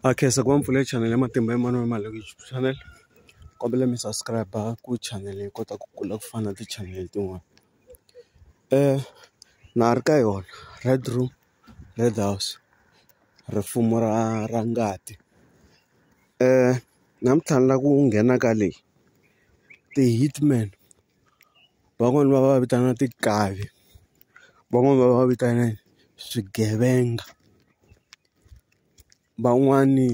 a khensa ku va mpfula channel ya matimba Emmanuel Maleku YouTube channel kombela mi subscribe ku channel yi kota ku kula ku fana na ti channel tin'wana na ha ri ka yona Red room Red house rifumo ra ra ngati namuntlha ni lava ku nghena ka leyi ti-hitman. van'wani va va vitana tinkavi van'wani va va vitana swigevenga van'wani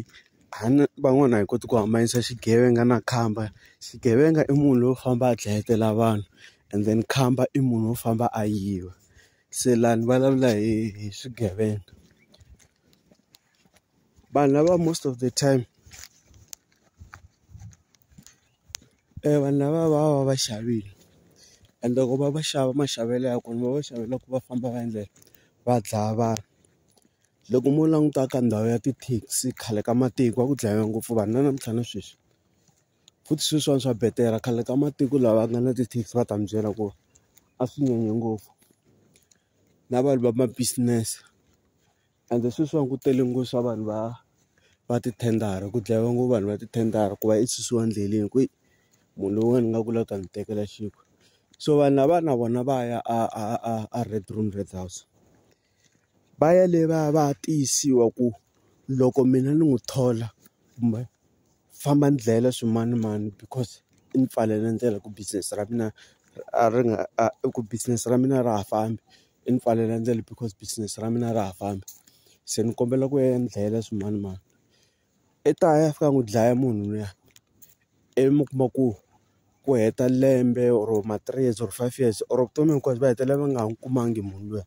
a ni van'wani a hi koti ku hambanyisa xigevenga na khamba xigevenga i munhu loyi u famba a dlayetela vanhu and then khamba i munhu wo famba a yiva se laha ni vulavula hi hi swigevenga vanhu lava most of the time. vanhu lava va va va xavile and loko va va xava maxavelo ya kona va va xavela ku va famba va endlela va dlaya vanhu loko mo languta ka ndhawu ya tithekisi khale ka matiko a ku dlayiwa ngopfu vanhu na namuntlha na sweswi futhi sweswiwani swa betela khale ka matiko lava nga na tithekisi va ta mi byela ku a swi nyanye ngopfu na vanhu va ma business. Ende sweswiwani ku tele nghozi swa vanhu va va tithendara ku dlayiwa ngopfu vanhu va tithendara ku va i susiwa endleleni ku munhu loyiwani nga ku la ta ni tekela xinkwa so vanhu lava na vona va ya a a a a red room red house va ya le va ya va ya tiyisiwa ku loko mina ni n'wi thola kumbe famba ni dlayela swimanimani because i ni pfalela ndlela ku business ra mina a ri nga a ku business ra mina a ra ha fambi i ni pfalela ndlela because business ra mina a ra ha fambi se ni kombela ku ya ni dlayela swimanimani i ta ya a fika a n'wi dlaya munhu luya ivi mi kuma ku ku heta lembe or ma three years or five years or vutomi hinkwabyo va hetelela va nga ha n'wi kumangi munhu luya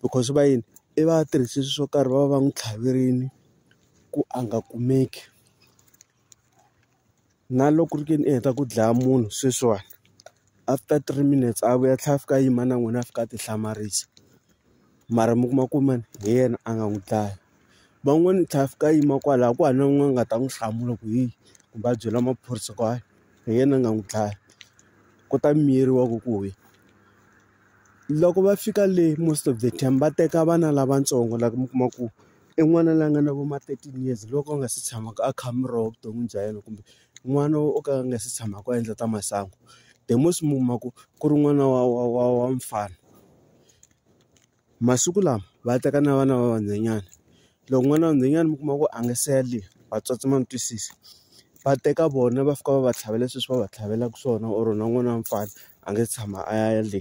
because va yini i va a tirhise swilo swo karhi va va va n'wi tlhaverile ku a nga kumeki. na loko ku ri ke ni i heta ku dlaya munhu sweswiwani after three minutes a vuya a tlhela a fika a yima na n'wina a fika a ti hlamarisa mara mi kuma ku mani hi yena a nga n'wi dlaya van'wani a tlhela a fika a yima kwala a ku hava na n'wini a nga ta n'wi hlamula ku hi kumbe a byela maphorisa ku hayi hi yena a nga n'wi dlaya ku ta miyeriwa ku ku hi loko va fika le most of the time va teka vana lavatsongo lava mi kuma ku. I n'wana la nga na vo ma thirteen years loko a nga se tshamaka a kha a mi rova evuton'wini bya yena kumbe n'wana wo ka a nga se tshamaka a endla ta masangu the most mi kuma ku ku ri n'wana wa wa wa wa mfana masiku lama va teka na vana va vanhwanyana loko n'wana wa nhwanyana mi kuma ku a nga se yaliwa vatswatsi ma mi twisisa va teka vona va fika va va tlhavela sweswi va va tlhavelaka swona or na n'wana wa mfana a nga se tshama a ya le.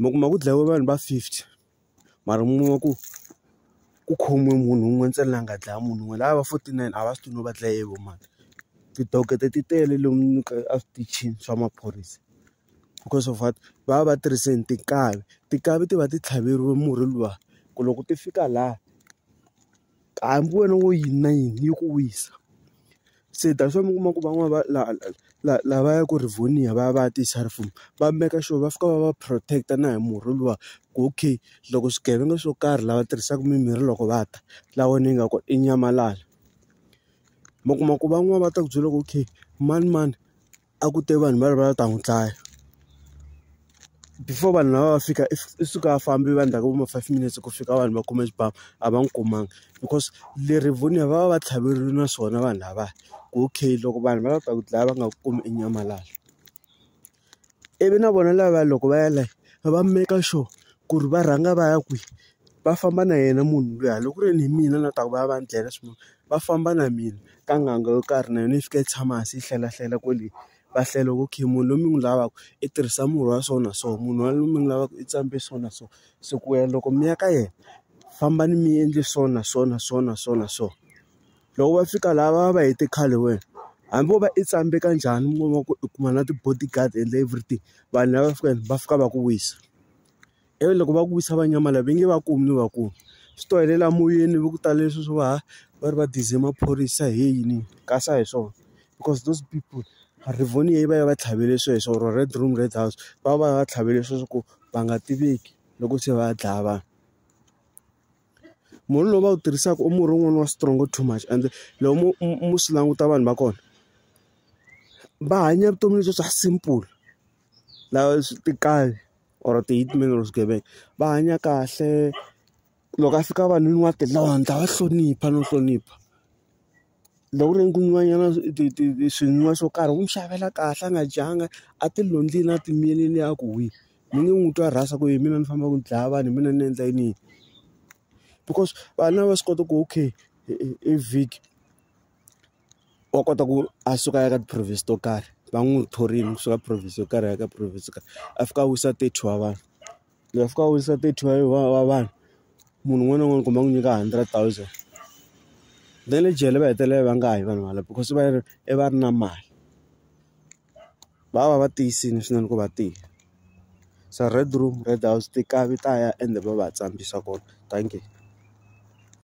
mi kuma ku dlayiwe vanhu va fifty mara mi kuma ku ku khomiwe munhu wun'we ntsena la nga dlaya munhu wun'we lava va forty nine a va swi tivi no va dlaye hi vo mani tidokoto ti tele lomu ka a switichini swa maphorisa because of what va va va tirhise yini tinkavi tinkavi ti va ti tlhaveriwe murhi luwa ku loko ti fika laha. hambi wena wo yini na yini yi ku wisa se that's why mi kuma ku van'wani va la la la va ya ku Rivonia va ya va ya ti va make sure va fika va va protect na hi murhi luwa ku okay loko swigevenga swo karhi lava tirhisaka mimirhi loko va ta la wena yi nga ku i nyamalala mi kuma ku van'wani va ta ku byela ku okay manimani. a ku te vanhu va ri va ta n'wi dlaya before vanhu lava va fika i suka a fambi va ndzhaku va ma five minutes ku fika vanhu va kume xibamu a va n'wi kumanga because le rivonia va va va tlhaverile na swona vanhu lava ku okay loko vanhu va la ta ku dlaya va nga ku kumi i nyamalala ivi na vona lava loko va ya la va make sure ku ri va rhanga va ya kwihi va famba na yena munhu luya loko ku ri ni mina na ta ku va ya va ni dlayela swifuwo va famba na mina ka n'anga yo karhi na yona yi fika yi tshama hansi yi hlela hlela kwale va hlela ku okay munhu loyi mi n'wi lavaka i tirhisa murhi wa so na so munhu wa loyi mi n'wi lavaka i tshame so na so se ku ya loko mi ya ka yena fambani mi endle so na so na so na so na so loko va fika laha va va va hete khale wena hambi vo va i tshame ka njhani mi kuma ku i kuma na ti-bodyguard and everything vanhu lava fikaka va fika va ku wisa. ivi loko va ku wisa va nyamala va nge va kumi ni va kumi swi to helela moyeni va ku tala leswi swo va ha va ri va dize maphorisa hi yini kasi a hi swona because those people rivoni yi va yi va tlhavele sweswo or red room red house va va va tlhavele sweswo ku va nga tiveki loko se va ya dlaya vanhu murhi lowu va wu tirhisaka u murhi wun'wana wa strong too much and loko mo mo swi languta vanhu va kona va hanya vutomi lebyi bya simple. lava swi tinkayo or ti-hitman or swigevenga va hanya kahle loko a fika vanhwini wa ti londla wa hlonipha no hlonipha loko ku ri ku nwiwa nyana ti ti ti swi nwiwa swo karhi u n'wi xavela kahle a nga dyanga a ti londzile a ti miyelini a ku huhwi mi nge n'wi twa rhasa ku hi mina ni fambaka ni dlaya vanhu hi mina ni endla yini yini because vanhu lava va swi kota ku okay i vhiki. wa kota ku a suka a ya ka ti-province to karhi va n'wi thorile kusuka province yo karhi a ya ka province yo karhi a fika a wisa thirty wa vanhu loyi a fika a wisa thirty wa wa wa vanhu munhu un'wana na un'wana kumbe a n'wi nyika hundred thousand na le jele va hetelela va nga ha yi vanhu valava because va ri i va ri na mali va va va tiyisile swinene ku va tiya se red room red house ti kavi ta ya ende va va tsarisa kona dankie.